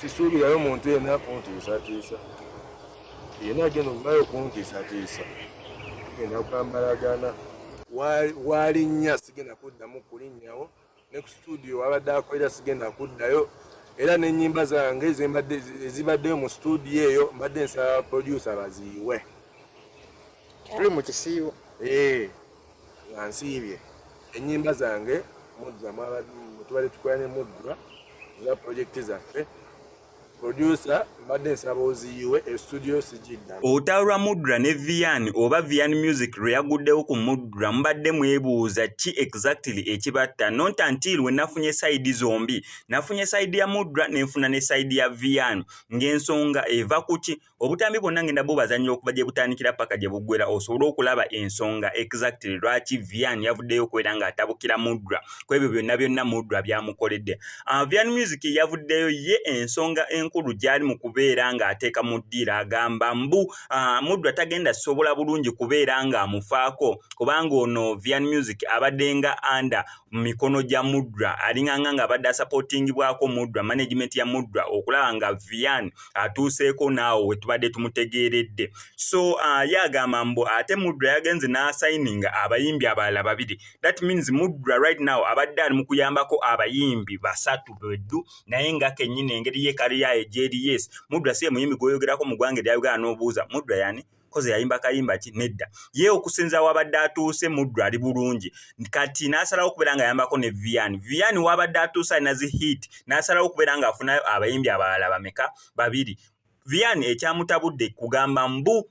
sisuubirayo muntu yenna kuntiisatiisa yenna agenda okuvayo kuntiisatiisa genda kwambalagana walinnya sigenda kuddamu kulinnyawo ne ku situdiyo wabadde akolera sigenda kuddayo era n'ennyimba zange ezibaddeyo mu situdiyo eyo mbadde nsaba producer baziyiwe tuli mu kisiibo eh. nga nsiibye ennyimba zange mudra tubadde tukola ne mudra za pulojekiti zaffe producer mbadde nsaba oziyiwe estudio sigidda olutalo lwa mudra ne vian oba vian music lwe yaguddewo ku mudra mubadde mwebuuza ki exactly ekibatta not until we nafunye sayidi zombi nafunye sayidi ya mudra nenfuna ne sayidi ya vian ng'ensonga eva ku ki obutambi bwonna ngenda bubazanyira okuva gye butandikira paka gye buggwera osobole okulaba ensonga exactly lwaki vian yavuddeyo okubeera ng'atabukira mudra ku ebyo byonna byonna mudra byamukoledde ah, vian music yavuddeyo ye ensonga enkulu gyali mu kubeera ng'ateeka mu ddiiro agamba mbu ah, mudra tagenda sobola bulungi kubeera ng'amufaako kubanga ono vian music abadde nga anda mu mikono gya mudra alinganga ng'abadde asapotingibwako mudra management ya mudra okulaba nga vian atuuseeko naawo wetubadde tumutegeeredde so uh, ye agamba mbu ate mudra yagenze n'asayininga abayimbi abalala babiri that means mudra right now abadde ali mu kuyambako abayimbi basatu beddu naye nga kennyini engeri ye kaliyaye gyeri yes mudra si ye muyimbi gw'oyogerako mu ggwanga erya uganda n'obuuza mudra yani koze yayimba kayimba ki nedda ye okusinza wabadde atuuse muddu ali bulungi kati n'asalawo okubeera nga ayambako ne vian vian wabadde atuuse alina zi hit n'asalawo okubeera nga afuna abayimbi abalala bameka babiri vian ekyamutabudde kugamba mbu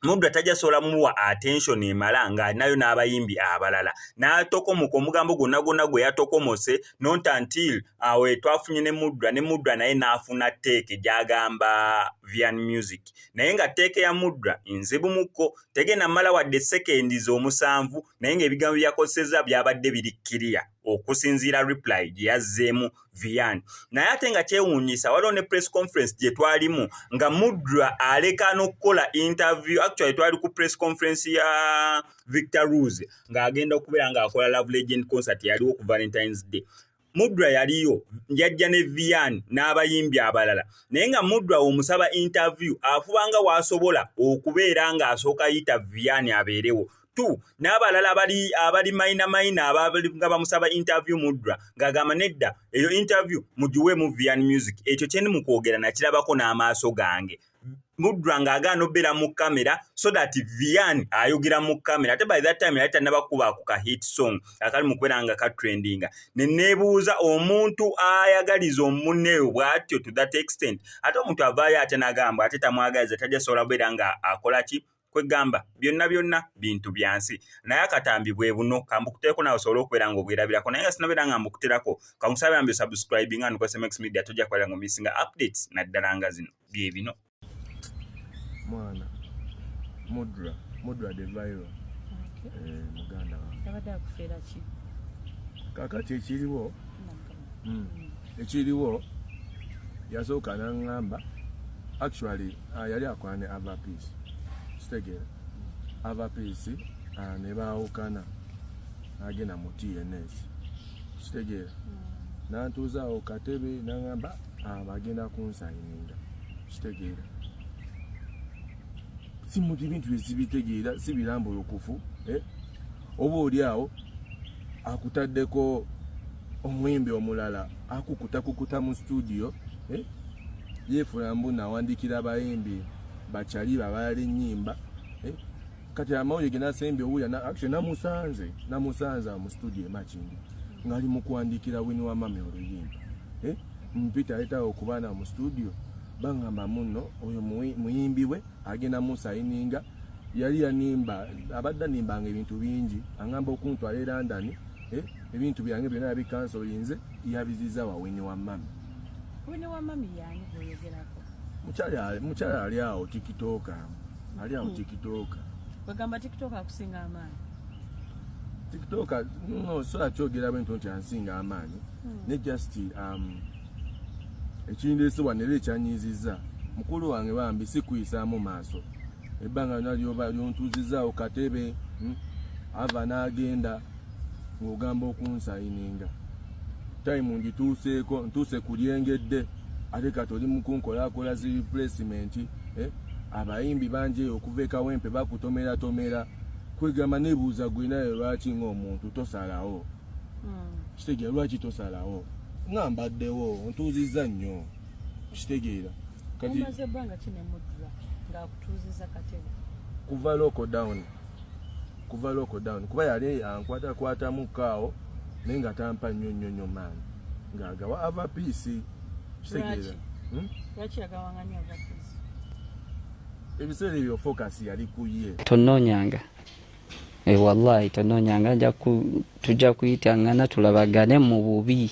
muddu atajja sobola muwa attention emala nga alinayo n'abayimbi abalala n'atokomoka omugambo gwonna gwonna gwe yatokomose not until awe twafunye ne muddra ne muddra naye n'afuna teeke gy'agamba vian music naye nga tteeka ya mudra enzibu mukko tegenda mala wadde sekendi z'omusanvu naye ng'ebigambo byakozesezza byabadde biri kiriya okusinziira reply gye yazzeemu vian naye ate nga kyewuunyisa waliwo ne press conference gye twalimu nga mudra aleka n'okukola interview actually twali ku press conference ya victor rose ng'agenda okubeera ng'akola love legend concert yaliwo ku valentine's day Mudra yaliyo yajja ne Vian n'abayimbi abalala naye nga Mudra omusaba interview afuba nga w'asobola okubeera ng'asooka yita Vian abeerewo tu n'abalala abali abali mayina mayina nga bamusaba interview Mudra ng'agamba nedda eyo interview mugiweemu Vian Music ekyo kye ndi mu kwogera nakirabako n'amaaso gange mudra nga agaana obeera mu kamera so that vian ayogera mu kamera ate by that time yali tanabakuba ku ka hit song akali mu kubeera nga katrendinga ne neebuuza omuntu ayagaliza omuneeyo bwatyo to that extent ate omuntu avaayo ate nagamba ate tamwagaliza tajja sobola kubeera nga akola ki kwegamba byonna byonna bintu byansi naye akatambi bwe buno kambukuteeko nawe osobole okubeera nga obwerabirako naye nga sinabeera nga mbukuterako kamusabe ambi subscribing and kwsmx media tojja kubeera nga omisinga updates naddala nga zino bye bino mwana mudra mudra the viral eh, muganda kakati ekiriwo mm. ekiriwo yasooka nangamba actually uh, yali akwane ava peace kitegeera ava peace uh, ne baawukana agenda mu tns kitegeera mm. nantuuzaawo katebe nangamba uh, bagenda kunsayininga kitegeera simuti bintu ezibitegeera sibirambulukufu eh? oba oli awo akutaddeko omuyimbi omulala akukutakukuta mu studio eh? yeefula mbu nawandikira abayimbi bakyali babaala ennyimba eh? kati amawulire genasembye owulira actually namusanze namusanze mu studio emakindi ngali mu kuwandikira wini wa mami oluyimba eh? mpita ayitawo okubaana mu studio bangamba muno oyo muyimbi we agenda musayininga yali yanimba abadde animbanga ebintu bingi angamba okuntwala e london eh, ebintu byange byona yabikansolinze yabiziza wawini wa mami mukyala ali awo tikitoka ali awo hmm. tikitoka bagamba tikitoka akusinga amaanyi tikitoka no so akyogera bwento nti ansinga amaanyi hmm. ne just um, ekindeese wanera ekyanyiizizza mukulu wange bambi sikuyisaamu maaso ebbanga lyona lyoba lyontuuzizaawo katebe hmm? ava n'agenda ng'ogamba okunsayininga tayimu ngituuseeko ntuuse ku lyengedde ate kati oli mukunkolakola zi replacement eh? abayimbi bangi eyo okuva ekawempe bakutomeratomera kwegamba nebuuza gwinayo lwaki ngaomuntu tosalawo hmm. kitegera lwaki tosalawo nga mbaddewo ontuuzizza nnyo okitegeera kati omaze ebbanga ki ne mudra ng'akutuuziza katebe kuva loko down kuva loko down kuba yali ankwatakwatamu kaawo naye nga tampa nnyo nnyo nnyo maani ng'agawa ava piisi okitegeera hmm? lwaki yagawanga nnyo ava piisi ebiseera ebyo focus yali ku ye tonnoonyanga Eh, wallahi tononyanga tujja kuyitangana tulabagane mu bubi